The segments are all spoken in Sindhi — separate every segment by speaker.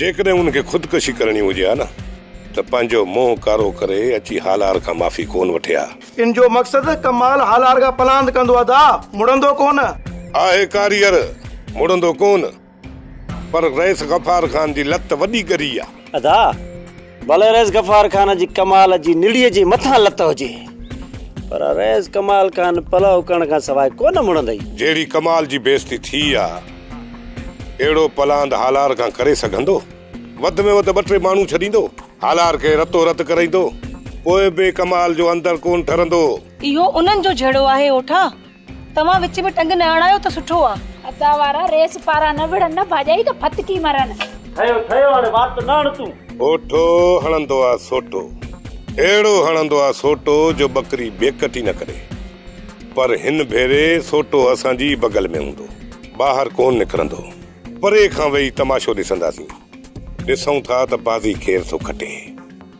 Speaker 1: جيڪڏهن هن کي خودڪشي
Speaker 2: ڪرڻي هجي ها نه ته پنهنجو منهن ڪارو ڪري اچي هالار کان معافي ڪونه وٺي ها. ان جو مقصد
Speaker 3: ڪمال هالار کان پلاند ڪندو ادا مڙندو ڪونه. آهي ڪاريئر
Speaker 2: مڙندو ڪونه. پر رئيس غفار خان جي لت وڏي ڳري آ. ادا.
Speaker 1: ڀلي رئيس غفار خان جي ڪمال جي نڙيء جي مٿان لت هجي پر رئيس ڪمال خان پلئه اڪرڻ کان سواء ڪونه مڙندئي. جهڙي ڪمال جي
Speaker 2: بيعزتي ٿي آ، اهڙو پلاند هالار کان ڪري سگهندو؟ وڌ ۾ وڌ ٻه ٽي ماڻهو ڇڏيندو. هالار کي رتو رت ڪرائيندو. پوء به ڪمال جو اندر ڪونه ٺرندو هو. اهو انهن جو
Speaker 4: جهيڙو آهي اوٺا، توهان وچ ۾ ٽنگ نه اڻايو ته سٺو آ. ادا وارا ريس
Speaker 5: پارا نه وڙهن نه ڀاڄائي ته ڦٿڪي مرن. ٺهيو ٺهيو هاڻي
Speaker 1: وات نه هڻ تون. اوٺو
Speaker 2: هڻندو آ سوٽو. اهڙو هڻندو آ سوٽو جو ٻڪري بيڪٽ ئي نه ڪري. پر هن ڀيري سوٽو اسان جي ئي بغل ۾ هوندو. ٻاهر ڪونه نڪرندو. پري کان ويهي تماشو ڏسنداسين. ڏسون ٿا ته بازي ڪير ٿو کٽي.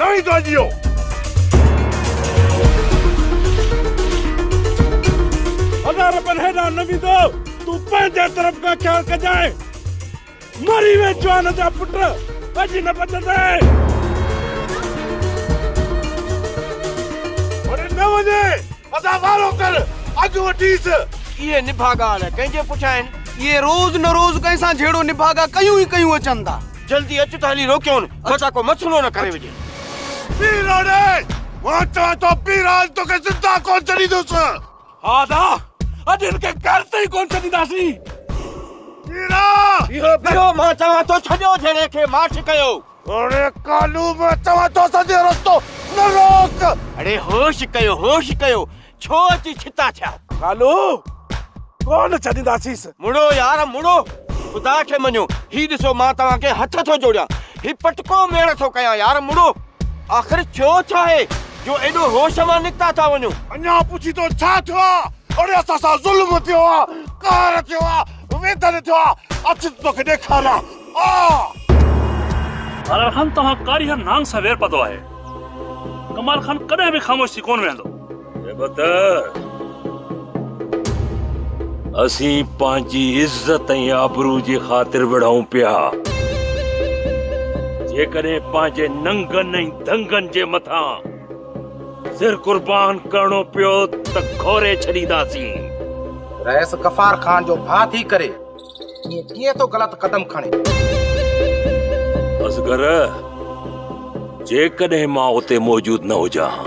Speaker 2: نوي گاء جيو. هزار رپين هيڏانهن نه ويندو. تون پنهنجي طرف کان خيال ڪجانء. مري ويھ جوان جا پٽ، اڄ نه بچندين. وڙي نه وڃي. ادا وارو ڪر اڳ وٺيس. اهي نڀاڳا
Speaker 6: الاء ڪنهن جي پٺيان آهن. اهي روز نه روز ڪنهن سان جهيڙو نڀاڳا ڪيون ئي ڪيون اچن ٿا. جلدي اچ ته هلي روڪيون بچا ڪو مسئلو نه ڪري وجهي. ٻيراڙي
Speaker 2: مان چوان ٿو ٻيراڙ توکي زنده ڪونه ڇڏيندس. ها ادا
Speaker 7: اڄ هن کي گهر تي ئي ڪونه ڇڏينداسين.
Speaker 2: ٻيراڙ. اهو
Speaker 6: ٻيرو مان چوان ٿو ڇڏيو جهيڙي کي ماٺ ڪيو. اڙي ڪالو
Speaker 2: مان چوان ٿو اسان جو رستو نه روڪ. اڙي هوش
Speaker 6: ڪيو هوش ڪيو ڇو اچي ڇتا ٿيا. ڪالو
Speaker 7: ڪونه ڇڏينداسينس. مڙو يار
Speaker 6: مڙو خدا کي مڃو هي ڏسو مان توهان کي هٿ ٿو جوڙيان هي پٽڪو ميڙ ٿو ڪيان يار مڙو آخر ٿيو ڇا آهي جو ايڏو هوش مان نڪتا ٿا وڃو. اڃا پڇين ٿو
Speaker 2: ڇا ٿيو آهي اڙي اسان سان ظلم ٿيو آهي قهر ٿيو آهي ويڌن ٿيو آهي اچ ته توکي ڏيکاريان.
Speaker 7: ڪمال خان توهان ڪاري هر نانگ سان وير پاتو آهي. ڪمال خان ڪڏهن به خاموش ٿي ڪونه ويهندو. هيبت، اسين پنهنجي عزت ۽ آبرو جي خاطر وڙهون پيا. جيڪڏهن پنهنجي ننگن ۽ دنگن جي مٿان سر قربان ڪرڻو پيو ته گهوري ڇڏينداسين. رئيس
Speaker 3: غفار خان جو ڀاء ٿي ڪري ائين ڪيئن ٿو غلط قدم کڻي.
Speaker 7: اصغر جيڪڏهن مان اتي موجود نه هجان ها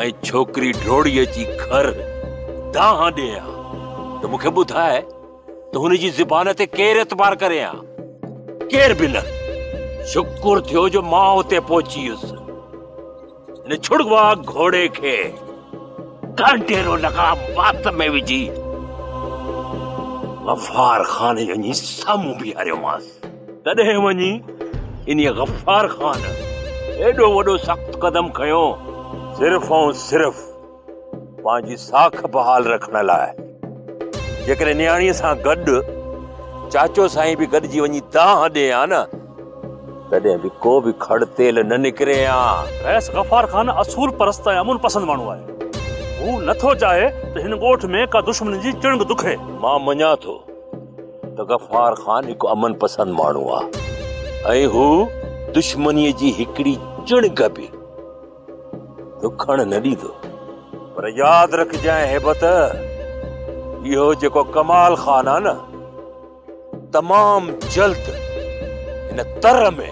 Speaker 7: ۽ ڇوڪري ڊوڙي اچي گهر دانهن ڏي ها ته مون کي ٻڌاء ته هن جي زبان تي ڪير اعتبار ڪري ها. ڪير به نه. شڪر ٿيو جو مان اتي پهچي ويس. ان ڇڙوا گهوڙي کي ڪانٽي رو لگام وات ۾ وجهي غفار خان وڃي سامهون بيهاريومانس تڏهن وڃي ان غفار خان ايڏو وڏو سخت قدم کنيو صرف ۽ صرف پنهنجي ساک بحال رکڻ لاء جيڪڏهن نياڻيء سان گڏ چاچو سائين به گڏجي وڃي دانهن ڏي ها نه تڏهن به ڪو به کڙ تيل نه نڪري ها. رئيس غفار خان اصول پرست ۽ امن پسند ماڻهو آهي. هو نه ٿو چاهي ته هن ڳوٺ ۾ ڪا دشمني جي چڻگ دکي. مان مڃان ٿو ته غفار خان هڪ امن پسند ماڻهو آهي ۽ هو دشمنيء جي هڪڙي چڻگ به ڏکڻ نه ڏيندو. پر ياد رکجانء هيبت، اهو جيڪو ڪمال خان آ نه، تمام جلد هن تر ۾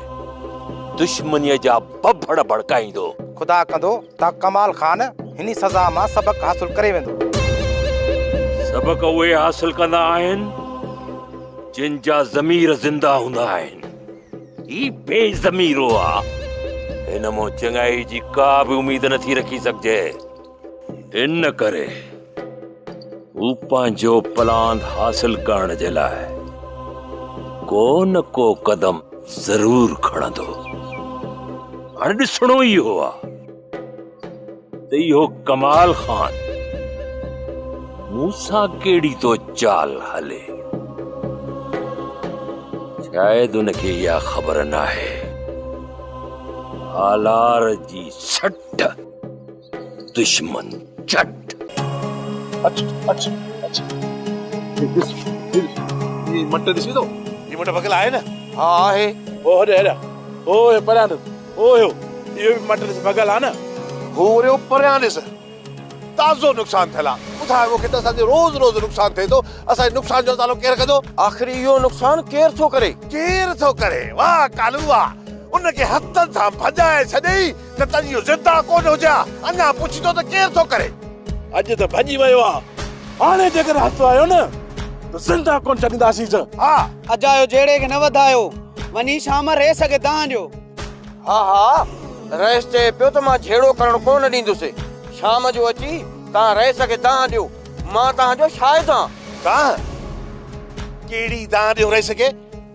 Speaker 7: دشمنيء جا ڀڀڙ ڀڙڪائيندو. خدا ڪندو
Speaker 3: ته ڪمال خان هني سزا مان سبق حاصل ڪري ويندو.
Speaker 7: سبق اهي حاصل ڪندا آهن، جن جا ضمير زنده هوندا آهن. هي بي ضميرو آ. هن مان چڱائي جي ڪا به اميد نه ٿي رکي سگهجي. ان ڪري هو پنهنجو پلان حاصل ڪرڻ جي لاء ڪو نه ڪو قدم ضرور کڻندو. هاڻي ڏسڻو ئي اهو آ. ته اهو ڪمال خان مون سان ڪهڙي ٿو چال هلي شايد ان کي اها خبر ناهي آلار جي سٽ دشمن چٽ اچ
Speaker 8: اچ اچ ڏس هي مٽ ڏسي ٿو هي مٽ ڀڳل آهي نه ها آهي هو
Speaker 3: هڏ هيڏا
Speaker 8: هو هي پريان هو هيو، اهو به مٽ ڏس ڀڳل آ نه. هو وريو،
Speaker 9: پريان ڏس تازو نقصان ٿيل آ. ٻڌاء مون کي ته اسان جو روز روز نقصان ٿئي ٿو، اسان جي نقصان جو ازالو ڪير ڪندو؟ آخر اهو نقصان
Speaker 6: ڪير ٿو ڪري؟ ڪير ٿو ڪري؟ واهه ڪالو
Speaker 9: واهه، ان کي هٿن سان ڀڄائي ڇڏي ئي نه ته اڄ اهو زنده ڪونه هجي ها، اڃا پڇيندو ته ڪير ٿو ڪري؟ اڄ ته ڀڄي
Speaker 8: ويو آ، هاڻي جيڪڏهن هٿ آيو نه ته زنده ڪونه ڇڏينداسينس. ها! اجايو
Speaker 3: جهيڙي کي نه وڌايو. وڃي شام ريس کي دانهن ڏيو. ها ها
Speaker 6: رئيس چئي پيو ته مان جهيڙو ڪرڻ ڪو نه ڏيندس. شام جو اچي توهان رئيس کي دانهن ڏيو. مان توهان جو شاهد آهان. دانهن؟
Speaker 9: ڪهڙي دانهن ڏيون رئيس کي؟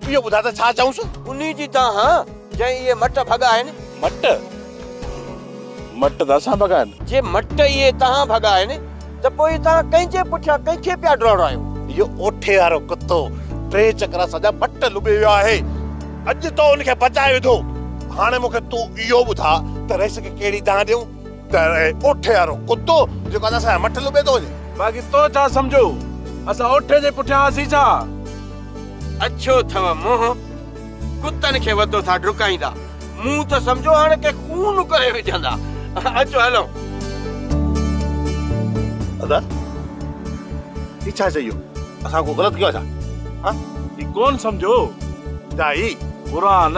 Speaker 9: اهو ٻڌاء ته ڇا چئونس؟ انهي جي دانهن.
Speaker 6: جي اهي مٽ ڀڳا آهن. مٽ؟
Speaker 8: مٽ ته اسان ڀڳا آهن. جي مٽ اهي
Speaker 6: توهان ڀڳا آهن ته پوء توهان ڪنهن جي پٺيان ڪنهن کي پيا ڊوڙايو؟ اهو اوٺي وارو
Speaker 9: ڪتو ٽي چڪر اسان جا مٽ لٻي ويو آهي. اڄ تو ان کي بچائي وڌو. هاڻي مون کي تون اهو ٻڌاء ته رئيس کي ڪهڙي دانهن ڏيون ته اوٺي وارو ڪتو جيڪو اڄ اسان جا مٽ لٻي ٿو وڃي. باقي تو ڇا سمجهو
Speaker 8: اسان اوٺي جي پٺيان هئاسين ڇا؟ اڇو
Speaker 6: اٿئو منهن. ڪتن کي وڌو ٿا ڊڪائيندا. مون ته سمجهيو هاڻ ڪي خون ڪري وجهندا. اچو هلون.
Speaker 9: ادا هي ڇا چئي اهو اسان ڪو غلط ڪيو آهي ڇا ها هي ڪون
Speaker 8: سمجهو دائي
Speaker 9: قرآن.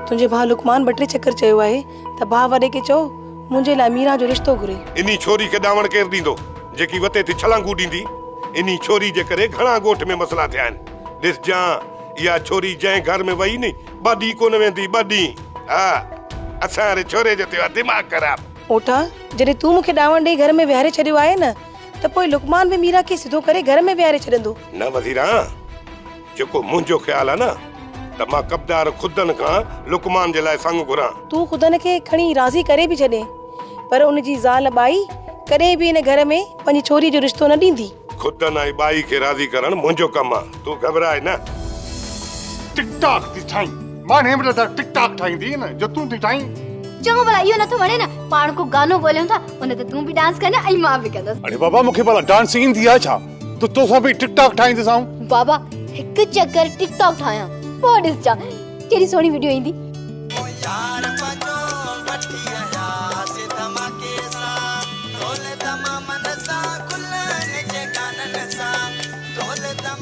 Speaker 4: تنهنجي ڀاء لقمان ٻه ٽي چڪر چيو آهي ته ڀاء وڏي کي چئو منهنجي لاء ميران جو رشتو گهري. انهي ڇوري کي ڏانوڻ
Speaker 2: ڪير ڏيندو جيڪي وتي ٿي ڇلانگون ڏيندي. انهي ڇوري جي ڪري گهڻا ڳوٺ ۾ مسئلا ٿيا آهن. ڏسجان اها ڇوري جنهن گهر ۾ وئي ني ٻه ڏينهن ڪونه ويندي ٻه ڏينهن ها اسان واري ڇوري جو ٿيو آهي دماغ خراب. اوٺا جڏهن تون
Speaker 4: مون کي ڏانوڻ ڏئي گهر ۾ ويهاري ڇڏيو آهي نه ته پوء لقمان به ميران کي سڌو ڪري گهر ۾ ويهاري ڇڏندو. نه وزيران!
Speaker 2: جيڪو منهنجو خيال آهي نه ته مان ڪبدار خدن کان لقمان جي لاء سڱ گهران. تون خدن کي کڻي
Speaker 4: راضي ڪري به ڇڏين پر ان جي زال ٻائي ڪڏهن به ان گهر ۾ پنهنجي ڇوري جو رشتو نه ڏيندي. خدن ۽ ٻائي
Speaker 2: کي راضي ڪرڻ منهنجو ڪم آهي تون گهٻراء نه. ٽڪ
Speaker 10: ٽاڪ ٿي ٺاهين مان هيم رڌا ٽڪ ٽاڪ ٺاهيندي نه جو تون ٿي ٺاهين. چڱو ڀلا اهو
Speaker 11: نٿو وڻي نه پاڻ ڪو گانو ڳوليون ٿا ان تي تون به ڊانس ڪرجان ۽ مان به ڪندس. اڙي بابا مون کي ڀلا ڊانس
Speaker 10: ايندي آهي ڇا؟ ته توسان به ٽڪ ٽاڪ ٺاهيندس آئون بابا هڪ
Speaker 11: چڪر ٽڪ ٽاڪ ٺاهيان پوء ڏسجان ڪهڙي سهڻي وڊيو ايندي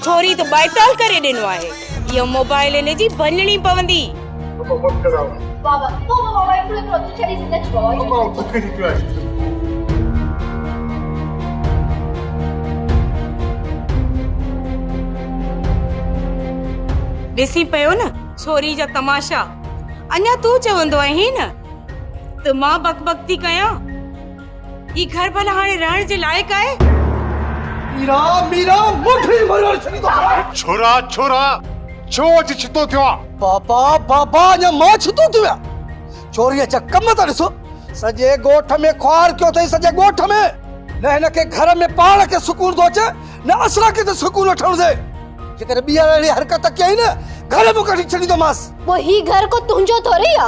Speaker 12: ٿوري ته ٻائٽال ڪري ڏنو آهي اهو موبائل هن جي ڀڃڻي پوندي
Speaker 4: ڏسين پيو نه ڇوري جا تماشا اڃا تون چوندو آهين ته مان بڪ بڪ ٿي ڪيان هي گهر ڀلا هاڻي رهڻ جي لائق آهي ميرا
Speaker 10: ميرا مٺي مرور ڇڏي ٿو ڇورا ڇورا ڇو اچ ڇتو ٿيو آ بابا بابا
Speaker 12: اڃا مان ڇتو ٿيو آ ڇوري اچا ڪم ته ڏسو سڄي ڳوٺ ۾ خوار ڪيو اٿئي سڄي ڳوٺ ۾ نه هن کي گهر ۾ پاڻ کي سڪون ٿو اچي نه اسان کي ته سڪون وٺڻ ڏي جيڪڏهن ٻيهر اهڙي حرڪت ڪيائين نه گهر مان ڪڍي ڇڏيندومانس پوء هي گهر ڪو
Speaker 11: تنهنجو ٿوري آ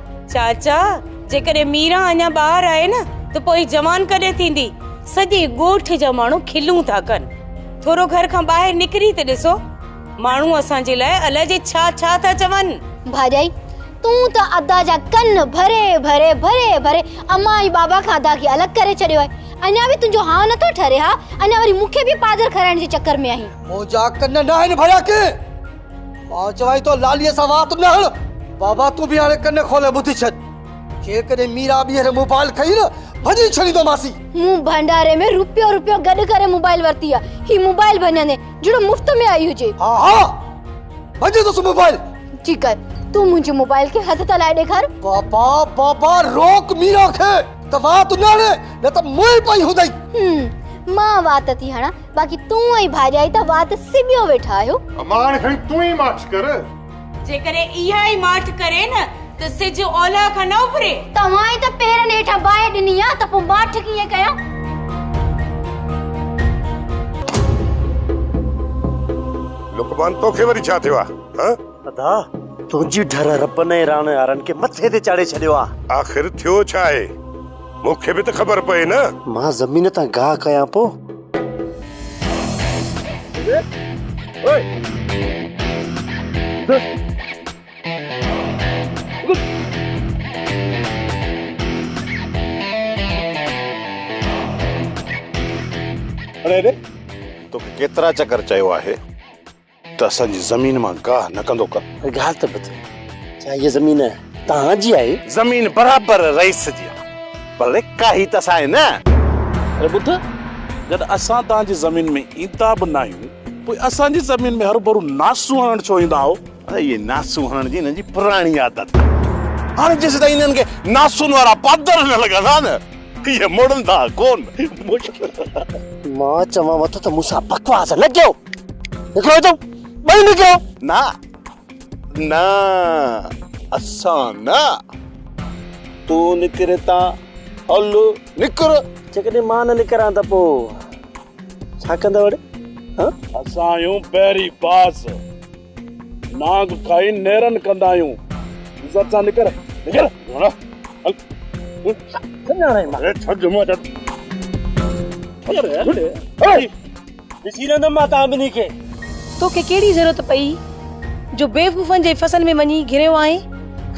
Speaker 10: چاچا
Speaker 4: جيڪڏهن ميرا اڃا ٻاهر آهي نه ته پوء جوان ڪڏهن ٿيندي سڄي ڳوٺ جا ماڻهو کلون ٿا ڪن ٿورو گهر کان ٻاهر نڪري ته ڏسو ماڻهو اسان جي لاء الاء جي ڇا ڇا ٿا چون ڀاڄائي
Speaker 11: تون ته ادا جا ڪن ڀري ڀري ڀري ڀري امان ۽ بابا کان ادا کي الڳ ڪري ڇڏيو آهي اڃا به تنهنجو هانء نٿو ٺري ها اڃا وري مون کي به پادر کارائڻ جي چڪر ۾ آهين منهنجا ڪن ناهن
Speaker 12: ڀريا ڪنهن مان چوانء ٿو لاليء سان وات نه هڻ. بابا تون به هاڻي ڪن کولي ٻڌي ڇڏ. جيڪڏهن ميرا ٻيهر موبائل کئي نه ڀڃي ڇڏيندومانسي. مون ڀنڊاري
Speaker 11: ۾ روپيو روپيو گڏ ڪري موبائل ورتي آ. هي موبائل ڀڃندين جهڙو مفت ۾ آئي هجي. ها ها
Speaker 12: ڀڃندوس موبائل. جي ڪر
Speaker 11: تون منهنجي موبائل کي هٿ ته لائي ڏيکار. بابا بابا
Speaker 12: روڪ ميرا کي ته وات نه هڻي نه ته مئي پئي هوندئي. هوم مان وات
Speaker 11: ٿي هڻان. باقي تون ۽ ڀاڄائي ته وات سٻيو ويٺا آهيو. اما هاڻي کڻي تون ئي
Speaker 10: ماٺ ڪر. جيڪڏهن
Speaker 4: اها ئي ماٺ ڪري نه ته سج اولهه کان نه اڀري. توهان ئي ته پيرن
Speaker 11: هيٺان باهه ڏني آ ته پوء ماٺ ڪيئن ڪيان.
Speaker 2: لقمان توکي وري ڇا ٿيو آ ها. ادا
Speaker 1: تنهنجي ڍر ربن ۽ راڻيهارن کي مٿي تي چاڙهي ڇڏيو آ. آخر ٿيو ڇا آهي.
Speaker 2: مون کي به ته خبر پئي نه. مان زمين تان
Speaker 1: گاهه ڪيان پو.
Speaker 8: توکي ڪيترا چڪر چيو آهي. ته اسان جي زمين مان گاهه نه ڪندو ڪر. گاهه ته پت
Speaker 1: ڇا هيء زمين توهان جي آهي؟ زمين برابر
Speaker 9: رئيس جي آهي پر ڪاهي ته اسان آهي نه. اري ٻڌ
Speaker 8: جڏهن اسان توهان جي زمين ۾ ايندا به ناهيون پوء اسان جي زمين ۾ هرڀرو ناسون هڻڻ ڇو ايندا آهو؟ اري هيء ناسون
Speaker 9: هڻڻ جي هنن جي پراڻي عادت آهي. هاڻي جيسيتائين هنن کي ناسون وارا پادر نه لڳن ها نه هيء مڙندا ڪونه. مشڪل.
Speaker 1: مان چوانوٿو ته مون سان بڪواس نه ڪيو. نڪرو تون ٻئي نڪرو. نه
Speaker 9: نه اسان نه تون نڪر اتان هل نڪر. جيڪڏهن مان نه
Speaker 1: نڪران ته پوء ڇا ڪندؤ اڙي؟ اسان
Speaker 8: آهيون بحري باز. نانگ کائي نيرن ڪندا آهيون عزت سان نڪر نڪر سڃاڻائي مان ڇڏ جمعو ڇڏ
Speaker 1: ڏسي رهندم مان تان ٻنهي کي توکي ڪهڙي
Speaker 4: ضرورت پئي جو بيوقوفن جي فصل ۾ وڃي گهريو آهين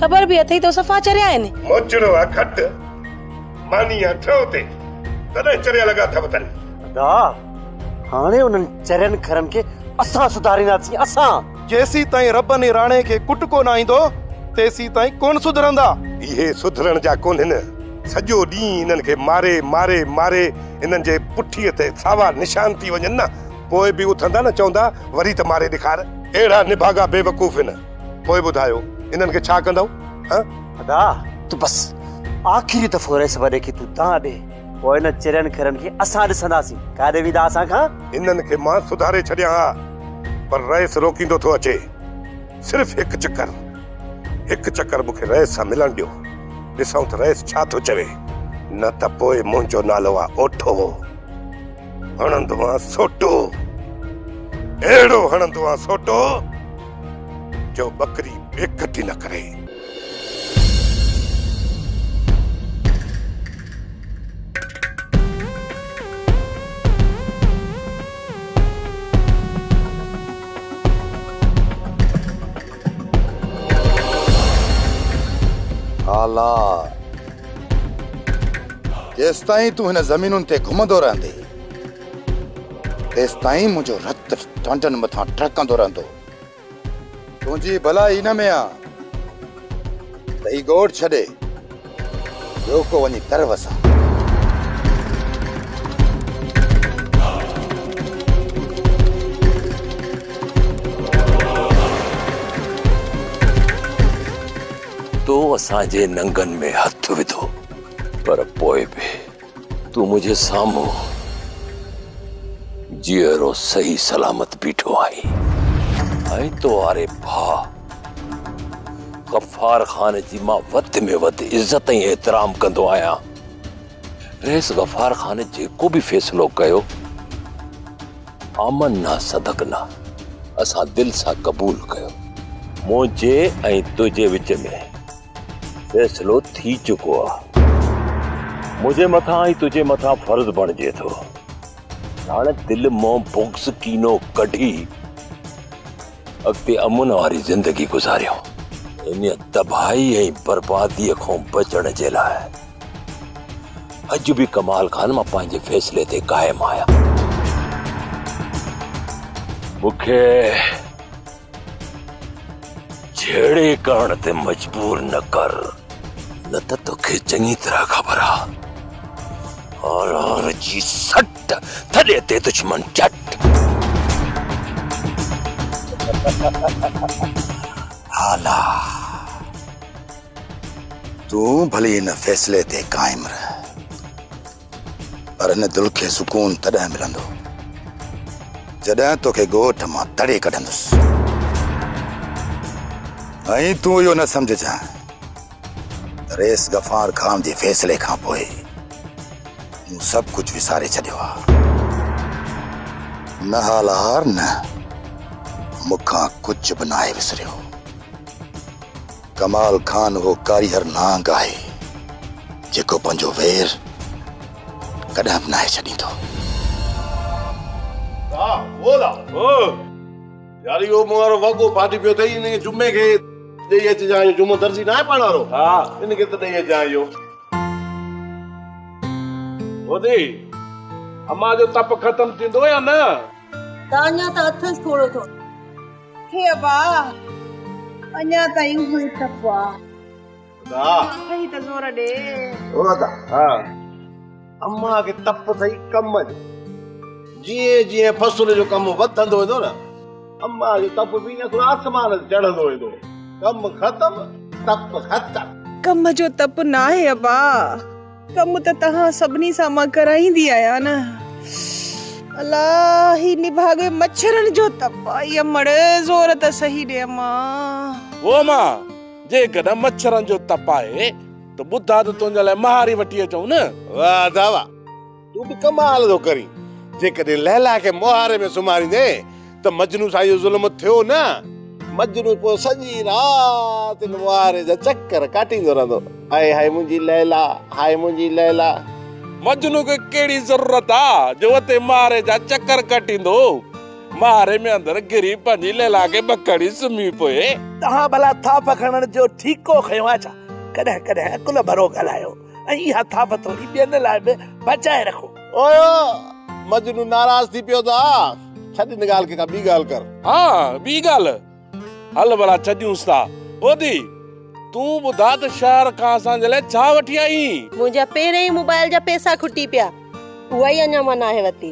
Speaker 4: خبر به اٿئي تو صفا چريا آهن موچڙو آ کٽ
Speaker 2: ماني آ ٿيو تي تڏهن چريا لڳا اٿئي تن ادا
Speaker 1: هاڻي انهن چرين کرن کي اسان سڌارينداسين، اسان! جيسين تائين رب
Speaker 6: ني راڻي کي ڪٽ ڪو نه آئيندو، تيسين تائين ڪونه سڌرندا. اهي سڌرڻ
Speaker 2: جا ڪونهن. سڄو ڏينهن انهن کي ماري، ماري، ماري انهن جي پٺيء تي ساوا نشان ٿي وڃن نه، پوء به اٿندا نه چوندا، وري ته ماري ڏيکار. اهڙا نڀاڳا بيوقوف هن، پوء ٻڌايو انهن کي ڇا ڪندؤ؟ هه! ادا!
Speaker 1: تون بس آخري دفعو رهيس وڏي کي تون دانهن ڏي. پوء ان چرين کرن کي اسان ڏسنداسين ڪاڏي ويندا اسان کان. هنن کي مان
Speaker 2: سڌاري ڇڏيان ها پر رئيس روڪيندو ٿو اچي. صرف هڪ چڪر هڪ چڪر مون کي رئيس سان ملڻ ڏيو. ڏسون ته رئيس ڇا ٿو چوي. نه ته پوء منهنجو نالو آ اوٺو. هڻندوانس سوٽو. اهڙو هڻندوانس سوٽو جو ٻڪري بي ڪٽي نه ڪري.
Speaker 10: هالا، جيستائين تون هن زمينن تي گهمندو رهندين، تيستائين منهنجو رت ٽانڊن مٿان ٽهڪندو رهندو. تنهنجي ڀلا هي نه ميان ته هي ڳوٺ ڇڏي ٻيو ڪو وڃي ڪر وسان.
Speaker 7: تو اسان جي ننگن ۾ هٿ وڌو پر پوء به تون منهنجي سامهون جيئرو صحيح سلامت بيٺو آهين ۽ تو واري ڀاء غفار خان جي مان وڌ ۾ وڌ عزت ۽ احترام ڪندو آهيان رئيس غفار خان جيڪو به فيصلو ڪيو آمن نه صدق نه اسان دل سان قبول ڪيو منهنجي ۽ تنهنجي وچ ۾ فيصلو ٿي چڪو آ منهنجي مٿان ۽ تنهنجي مٿان فرض بڻجي ٿو هاڻي دل مان بغض ڪينو ڪڍي اڳتي امن واري زندگي گذاريو ان تباهي ۽ بربادي کان بچڻ جي لاء اڄ به ڪمال خان مان پنهنجي فيصلي تي قائم آهيان مونکي جهيڙي ڪرڻ تي مجبور نه ڪر نه ته توکي چڱي طرح خبر آ آر آر جي سٽ ٿڏي تي دشمن چٽ هالا
Speaker 10: تون ڀلي هن فيصلي تي قائم رهه پر هن دل کي سڪون تڏهن ملندو جڏهن توکي ڳوٺ مان تڙي ڪڍندس ۽ تون اهو نه سمجهجان ته ريس غفار خان جي فيصلي کان پوء مون سڀ ڪجهه وساري ڇڏيو آهي نه هالار نه مون کان ڪجهه به ناهي وسريو ڪمال خان اهو ڪاريهر نانگ آهي جيڪو پنهنجو وير ڪڏهن به ناهي ڇڏيندو. ها هو لا
Speaker 9: هو يار اهو مون وارو وڳو ڦاٽي پيو اٿئي ان کي جمعي کي ڏئي اچجان اهو جمعو درزي ناهي پاڻ وارو ها ان کي ته ڏئي اچجان اهو.
Speaker 8: هودي امان جو تپ ختم ٿيندو يا نه. تانيا
Speaker 4: ته اٿس ٿورو ٿورو. هي ابا اڃا تائين اهو ئي ٽپ آ. ادا.
Speaker 9: اٿئي
Speaker 4: ته زور ڏي. او ادا.
Speaker 9: ها. امان کي ٽپ اٿئي ڪم جو. جيئن جيئن فصل جو ڪم وڌندو ويندو نه امان جو ٽپ به ايئن ٿورو آسمان تي چڙهندو ويندو. ڪم ختم ٽپ ختم. ڪم جو ٽپ
Speaker 4: ناهي ابا. ڪم ته توهان سڀني سان مان ڪرائيندي آهيان نه. الا هي نڀاڳي مڇرن جو تپ آهي امڙ زور ته سهي ڏي امان. هو امان
Speaker 8: جيڪڏهن مڇرن جو تپ آهي ته ٻڌاء ته تنهنجي لاء مهاري وٺي اچون نه. واهه ادا واهه
Speaker 9: تون به ڪمال ٿو ڪرين جيڪڏهن ليلا کي مهاري ۾ سمهاريندين ته مجنون سان اهو ظلم ٿيو نه. مجنون پوء سڄي رات ان معاهري جا چڪر ڪاٽيندو رهندو، هاء هاء منهنجي ليلا، هاء منهنجي ليلا. مجنون
Speaker 8: کي ڪهڙي ضرورت آ جو اتي معاهري جا چڪر ڪاٽيندو، معاهري ۾ اندر گهري پنهنجي ليلا کي ٻڪڻي سمهي پوي. توهان ڀلا
Speaker 13: ٿاڦ کڻڻ جو ٺيڪو کنيو آ ڇا؟ ڪڏهن ڪڏهن عقل ڀرو ڳالهايو. ۽ اها ٿاڦ ٿوري ٻين لاء به بچائي رکو. او
Speaker 9: مجنون ناراض ٿي پيو ته آء. ڇڏ ان ڳالهه کي ڪا ٻي ڳالهه ڪر. ها ٻي
Speaker 8: ڳالهه. هل ڀلا ڇڏيونس ٿا. ٻوڌي تون ٻڌاء ته شهر کان اسان جي لاء ڇا وٺي آئين؟ منهنجا پهريائين
Speaker 4: موبائل جا پئسا کٽي پيا. اها ئي اڃا مان ناهي ورتي.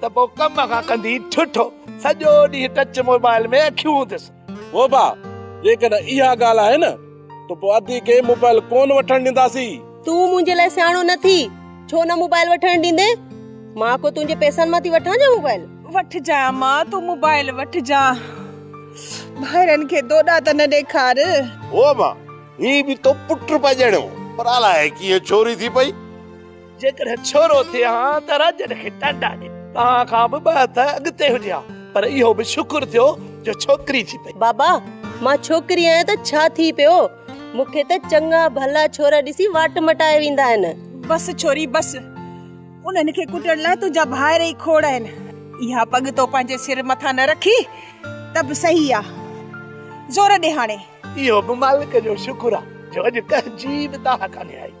Speaker 13: ته پوء ڪم کان ڪندي ٺٺو سڄو ڏينهن ٽچ موبائل ۾ اکيون هونديس. ووبا،
Speaker 8: جيڪڏهن اها ڳالهه آهي نه ته پوء ادي کي موبائل ڪونه وٺڻ ڏينداسين. تون منهنجي لاء
Speaker 4: سياڻو نه ٿي، ڇو نه موبائل وٺڻ ڏيندين؟ مان ڪو تنهنجي پئسن مان ٿي وٺان ڇا موبائل؟ وٺجانء ماء تون موبائل وٺجانء. ڀائرن کي دوڏا ته نه ڏيکار. ووبا،
Speaker 9: هي به تو پٽ پڄڻيو پر الاهي ڪيئن ڇوري ٿي پئي. جيڪڏهن
Speaker 13: ڇورو ٿئي ها ته راڄن کي ٽانڊا ڏي. توهان کان به ٻه هٿ اڳتي هجي ها پر اهو به شڪر ٿيو جو ڇوڪري ٿي پئي. بابا مان
Speaker 14: ڇوڪري آهيان ته ڇا ٿي پيو. مون کي ته چڱا ڀلا ڇورا ڏسي واٽ مٽائي ويندا آهن. بس ڇوري بس.
Speaker 15: انهن کي ڪٽڻ لاء تنهنجا ڀائر ئي کوڙ آهن. اها پڳ تو پنهنجي سر مٿان نه رکي ته به صحيح آ. زور ڏي هاڻي. اهو به مالڪ
Speaker 13: جو شڪر آ جو اڄ ڪنهن جي به دانهن ڪانهي آئي.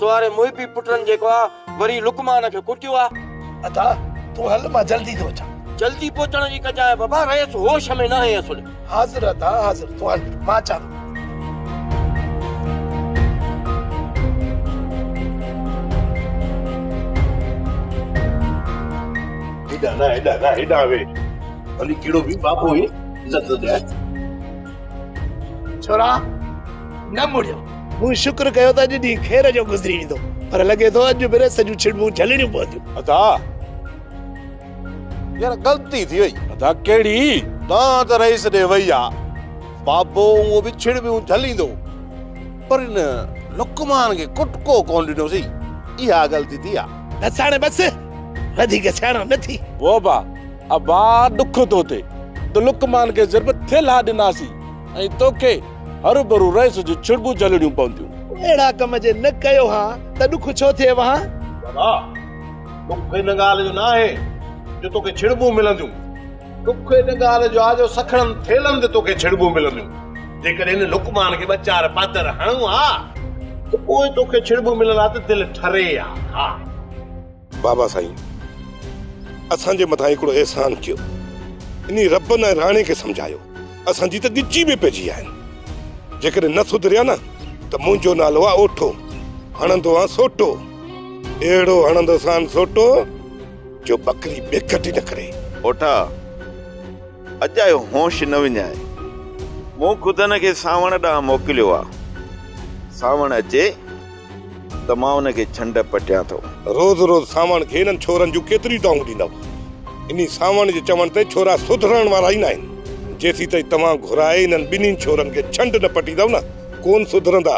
Speaker 13: توهاري
Speaker 6: محبي پٽن جيڪو آ وري لقمان کي ڪٽيو آ. ادا
Speaker 13: تون هل مان جلدي ٿو اچان. جلدي پهچڻ جي
Speaker 6: ڪجانء بابا رئيس هوش ۾ ناهي اسل. حاضر ادا حاضر
Speaker 13: تون هل مان اچان ٿو. هيڏانهن نه
Speaker 9: هيڏانهن نه هيڏانهن ويهه ڀلي ڪهڙو به بابو هي عزت ڏيانء.
Speaker 13: ڇورا نه مڙيو. مون شڪر ڪيو ته اڄ ڏينهن خير جو گذري ويندو پر لڳي ٿو اڄ به رس جون ڇڙٻون جهلڻيون پونديون. ادا
Speaker 9: يار غلطي ٿي وئي. ادا ڪهڙي؟ دانهن ته رئيس ڏي وئي آ. بابو هونء به ڇڙٻيون جهليندو پر ان لقمان کي ڪٽڪو ڪونه ڏنوسين اها غلطي ٿي آ. بس هاڻي بس
Speaker 13: وڌيڪ سياڻو نه ٿي. ووبا
Speaker 8: ابا ڏک ٿو ٿئي ته لقمان کي ضرب ٿيل ها ڏناسين ۽ توکي هروڀرو رئيس جون ڇڙٻون جهلڻيون پونديون. اهڙا ڪم جي نه
Speaker 13: ڪيو ها ته ڏک ڇو ٿئي وهان؟ ابا
Speaker 9: ڏک ان ڳالهه جو ناهي جو توکي ڇڙٻون ملنديون. ڏک ان ڳالهه جو آ جو سکڻن ٿيلن تي توکي ڇڙٻون ملنديون. جيڪڏهن هن لقمان کي ٻه چار پاتر هڻون ها ته پوء توکي ڇڙٻون ملڻ لاء ته دل ٺري ها.
Speaker 2: بابا سائين اسان جي مٿان هڪڙو احسان ڪيو انهي ربن ۽ راڻي کي سمجهايو اسان جي ته ڳچي به پئجي آهن جيڪڏهن نه سڌريا نه ته منهنجو نالو آ اوٺو هڻندو آ سوٽو اهڙو هڻندو سان سوٽو جو بڪري بيکٽ نه ڪري اوٺا
Speaker 16: اڄ آيو هوش نه وڃائي مون خود هن کي سانوڻ ڏانهن موڪليو آ سانوڻ اچي ته مان ان کي ڇنڊ پٽيان ٿو. روز روز سانوڻ
Speaker 2: کي انهن ڇورن جون ڪيتريون دانهون ڏيندؤ. انهي سانوڻ جي چوڻ تي ڇورا سڌرڻ وارا ئي ناهن. جيسين تائين توهان گهرائي انهن ٻنهين ڇورن کي ڇنڊ نه پٽيندؤ نه ڪون سڌرندا.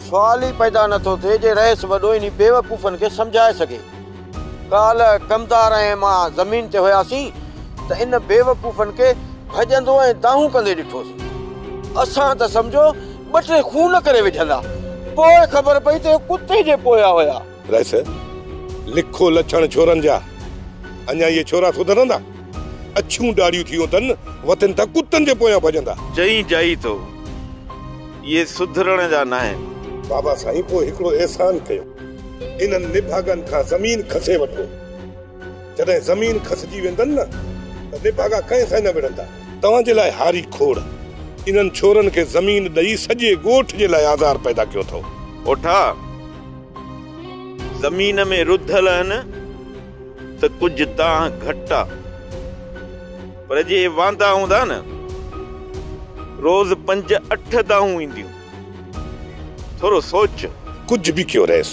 Speaker 2: سوال ئي
Speaker 6: پيدا نه ٿو ٿئي جي رئيس وڏو انهي بيوقوفن کي سمجهائي سگهي. ڪالهه ڪمدار ۽ مان زمين تي هياسين ته ان بيوقوفن کي ڀڄندو ۽ دانهون ڪندي ڏٺوسين. اسان ته سمجهو ٻه ٽي خون ڪري وجهندا. پوء خبر پئي ته اهي ڪتي جي پويا هيا. رئيس،
Speaker 2: لکو لڇڻ ڇورن جا. اڃا اهي ڇورا سڌرندا؟ اڇيون ڏاڙهيون ٿيون اٿن، وتن ٿا ڪتن جي پويان ڀڄندا. چئين جائي ٿو،
Speaker 16: اهي سڌرڻ جا ناهن. بابا سائين پوء هڪڙو
Speaker 2: احسان ڪيو، انهن نڀاڳن کان زمين کسي وٺو. جڏهن زمين کسجي ويندن نه ته نڀاڳا ڪنهن سان نه وڙهندا. توهان جي لاء هاري کوڙ. انهن ڇورن کي زمين ڏئي سڄي ڳوٺ جي لاء آزار پيدا ڪيو اٿئو. اوٺا
Speaker 16: زمين ۾ رڌل اهن ته ڪجهه دانهن گهٽ آ پر جي واندا هوندا نه روز پنج اٺ دانهون اينديون. ٿورو سوچ. ڪجهه به ڪيو
Speaker 2: رئيس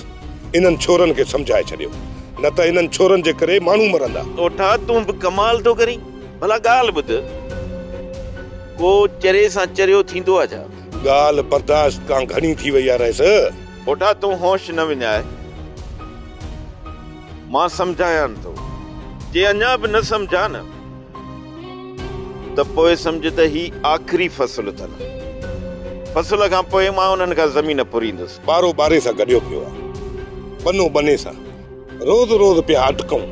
Speaker 2: انهن ڇورن کي سمجهائي ڇڏيو نه ته انهن ڇورن جي ڪري ماڻهو مرندا. ڏوٺا تون به
Speaker 16: ڪمال ٿو ڪرين ڀلا ڳالهه ٻڌ ڪو چري سان چريو ٿيندو آ ڇا. ڳالهه برداشت
Speaker 2: کان گهڻي ٿي وئي آ رئيس. ڏوٺا تون
Speaker 16: هوش نه وڃاء مان سمجهايان ٿو جي اڃا به نه سمجهيا نه. ته پوء سمجهه ته هي آخري فصل اٿن. فصل کان پوء مان انهن کان زمين ڦريندس. ٻارو ٻاري سان گڏيو
Speaker 2: پيو آهي. ٻنو ٻني سان روز روز پيا اٽڪون.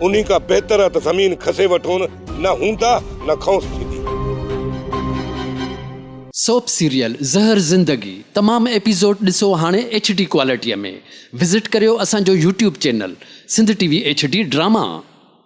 Speaker 2: انهي کان بهتر آهي ته زمين کسي وٺون، نه هوندا نه کئونس ٿيندي.
Speaker 17: سوپ سيريل زهر زندگي تمام ايپيسوڊ ڏسو هاڻي ايڇ ڊي ڪوالٽيء ۾ وزٽ ڪريو اسان جو YouTube channel Sindh T V H D drama.